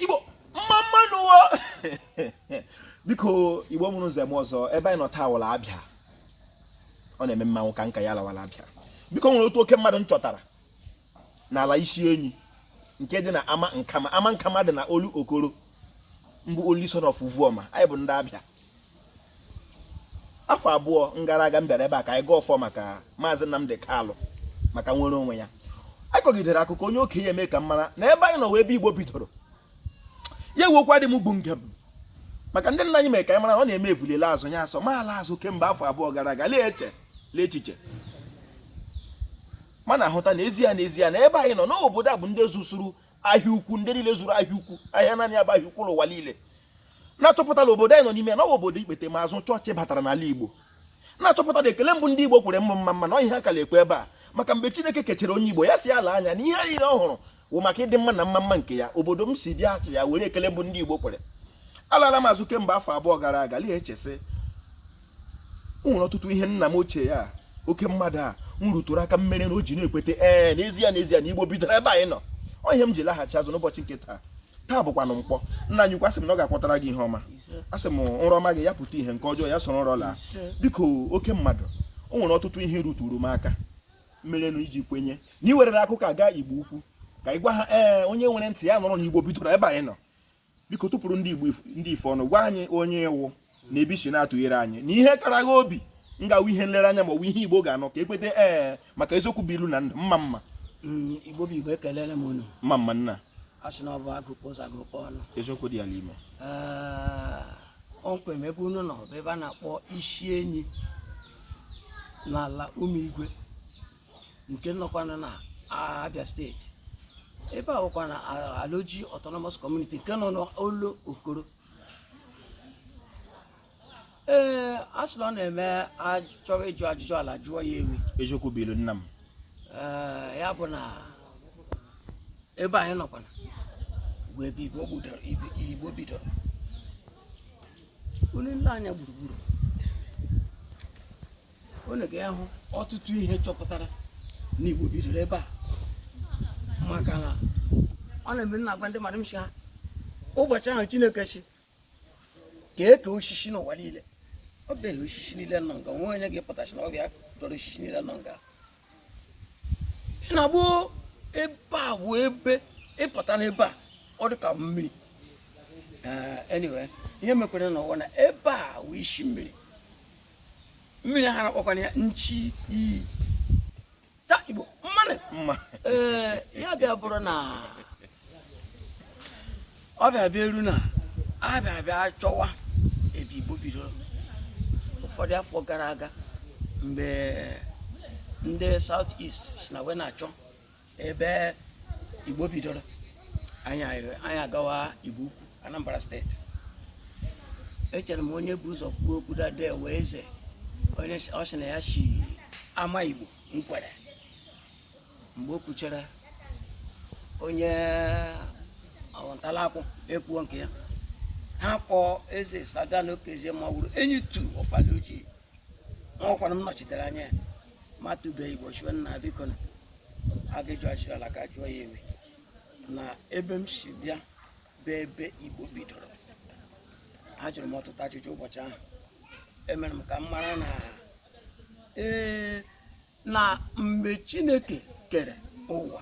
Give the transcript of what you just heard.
igbo mma mma nụ o biko igbo mụrụ nze mụọ ọzọ ebe anyị nọ taa wụ ala Abia ọ na-eme mmanwụ ka nka ya lawa ala Abia biko o nwere otu oke mmadụ m chọtara n'ala isi enyi nke dị na ama nkama ama nkama dị na Olokoro m bụ only son of Uvuoma anyị bụ ndị Abia afọ abụọ gara aga m bịara ebe a ka anyị gọọ ọfọ maka Maazị Nnamdi Kanu maka nnwere onwe ya anyị kọgidere akụkọ onye okenye emee ka m mara na ebe anyị nọ wụ ebe Igbo bidoro ya ewekwa dị m bụ njem maka ndị nna anyị mere ka anyị mara ọ na-eme evule laa azụ ya asọ m alaa azụ kemgbe afọ abụọ gara aga lee eche lee echiche m na-ahụta na ezie na ezie na ebe anyị nọ n'obodo a bụ ndị zụsuru ahịa ukwu ndị niile zụrụ ahịa ukwu ahịa naanị ya bụ ahịa ukwu n'ụwa niile na-achọpụta na obodo anyị nọ n'ime ya na ọ bụ obodo ikpetemazụ chọọchị batara n'ala Igbo na-achọpụta na ekele mbụ ndị Igbo kwere bụ mma mma na ihe a ka na-ekwe ebe a maka mgbe Chineke kechara onye Igbo ya si ala anya na ihe niile ọ hụrụ wụ maka ịdị mma na mma mma nke ya obodo m si bịa achị ya were ekele mbụ ndị Igbo kwere alala m azụ kemgbe afọ abụọ gara aga lee echesị o nwere ọtụtụ ihe nna m ochie ya oke mmadụ a m rụtụrụ aka mere na o ji na-ekweta ee n'ezie n'ezie na Igbo bidoro ebe anyị nọ ọ ihe m ji laghachi azụ n'ụbọchị nke taa taa bụkwanụ Nkwọ nna anyị ukwu asị m na ọ ga-akwọtara gị ihe ọma asị m nrọ ọma gị ya pụta ihe nke ọjọọ ya soro nrọ laa biko oke mmadụ o nwere ọtụtụ ihe ị rụtụụrụ m aka merenụ i ji kwenye na i werere akụkọ a gaa igbo ukwu ka ị gwa ha ee onye nwere ntị ya nụrụ na igbo bidoro ebe anyị nọ biko tụpụrụ ndị igbo ndị ife ọnụ gwa anyị onye ị wụ na ebe i si na-atụnyere anyị na ihe kara gha obi ga-awụ ihe nlereanya ma ọ bụ ihe igbo ga-anụ ka e kweta ee maka eziokwu bụ ilu na ndụ mma mma Mm, igbo bụ igbo ekelele m unu mma mma nna asị na ọ bụ agụkpọ ụzọ agụkpọ ọnụ eziokwu dị ya n'ime Ee, kpọmkwem ebe unu nọ bụ ebe a na-akpọ isi enyi n'ala ụmụ igwe nke nọkwanụ na abia steeti ebe a bụkwa na aloji autonomous community nke nọ n'Olokoro ee a sị na ọ na-eme a chọọ ịjụ ajụjụ ala a jụọ ya ewi eziokwu bụ ilu nna m Ee, ya bụ na ebe anyị nọkwana bụ ebe igbo bidoro ibi- igbo bidoro unu lee anya gburugburu unu ga-ahụ ọtụtụ ihe chọpụtara na Igbo bidoro ebe a maka na ọ na-eme m na-agwa ndị mmadụ m sị ha ụbọchị ahụ Chineke sị ka e kee osisi n'ụwa niile ọ bịaghị osisi niile nọ nga o nwe onye ga-apụta sị na ọ bụ ya dọrọ osisi niile nọ nga ị na-agba ebe a bụ ebe ị pụta n'ebe a ọ dị ka mmiri Eh, anyway ihe mekwaranụ wụ na ebe a wụ isi mmiri mmiri ha na-akpọkwana ya nchi iyi ta igbo mma nụ mma ee ya bịa bụrụ na ọ bịa bịa eru na a bịa bịa chọwa ebe igbo bidoro ụfọdụ afọ gara aga mgbe ndị south east si na wee na-achọ ebe igbo bidoro anyị agawa igbo ukwu anambra steeti echere m onye bu ụzọ kwuo okwu dade wee eze onye ọ sị na ya si ama igbo nkwerre mgbe o kwuchara onye ọwa ntalakwu ekwuo nke ya ha kpọọ eze saga na okezie ma wụrụ enyi two of alaoji ma ọkwara m nọchitere anya ya ma tụbeghị ụbọchị nwanna biko na aga ịjụ ase ala ka jụọ ya ewe na ebe m si bịa bụ ebe igbo bidoro ajụrụ m ọtụtụ ajụjụ ụbọchị ahụ emere m ka m mara na ee na mgbe chineke kere ụwa